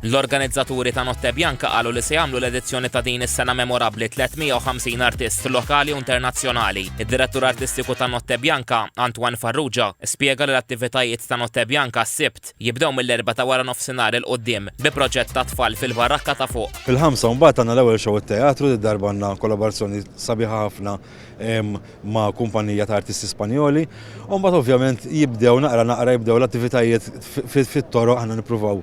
L-organizzaturi ta' Notte Bianca qalu li se jagħmlu l-edizzjoni ta' din is-sena memorabbli 350 artist lokali u internazzjonali. Id-Direttur Artistiku ta' Notte Bianca, Antoine Farrugia, spjega li l-attivitajiet ta' Notte Bianca s-Sibt jibdew mill-Erbgħa ta' wara nofsinhar 'il quddiem bi proġett tat-tfal fil-barakka ta' fuq. Fil-Ħamsa mbagħad għandna l-ewwel show t-teatru, did-darba għandna kollaborazzjoni sabiħa ħafna ma' kumpanija ta' artisti Spanjoli. U mbagħad ovvjament jibdew naqra naqra jibdew l-attivitajiet fit-toroq aħna nippruvaw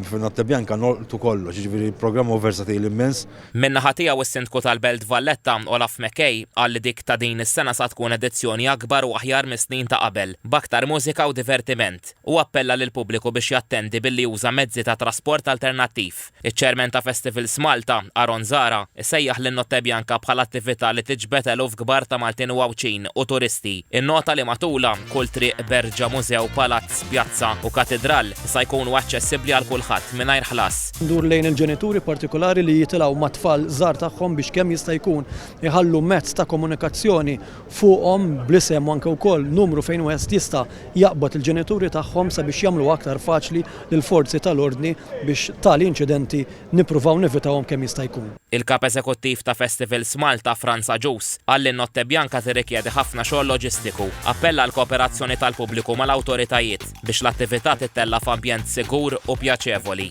fin-Notte Bianca nolqtu kollox, jiġifieri programm huwa versatili immens. Min-naħa tiegħu s-Sindku tal-Belt Valletta, Olaf McKay, qal li dik ta' din is-sena sa tkun edizzjoni akbar u aħjar mis-snin ta' qabel, b'aktar mużika u divertiment. Hu appella lill-pubbliku biex jattendi billi juża mezzi ta' trasport alternattiv. Iċ-Chairman ta' Festivals Malta, Aaron Zahra, isejjaħ lin-Notte Bianca bħala attività li tiġbed eluf kbar ta' Maltin u Għawdxin u turisti. Innota li matulha, kull triq, berġa, mużew, palazz, pjazza, u katidral sa jkunu aċċessibbli għal kulħadd mingħajr ħlas. Ndur lejn il-ġenituri partikulari li jitilgħu mat-tfal żgħar tagħhom biex kemm jista' jkun iħallu mezz ta' komunikazzjoni fuqhom bl-isem u anke wkoll numru fejn wieħed jista' jaqbad il-ġenituri tagħhom sabiex jagħmluha aktar faċli lill-forzi tal-ordni biex tali inċidenti nippruvaw nevitawhom kemm jista' jkun. Il-Kap Eżekuttiv ta' Festivals Malta, Frans Agius, qal li n-Notte Bianca tirrikjedi ħafna xogħol loġistiku. Appella għall-kooperazzjoni tal-pubbliku mal-awtoritajiet biex l-attività tittella' f'ambjent sigur u pjaċevoli.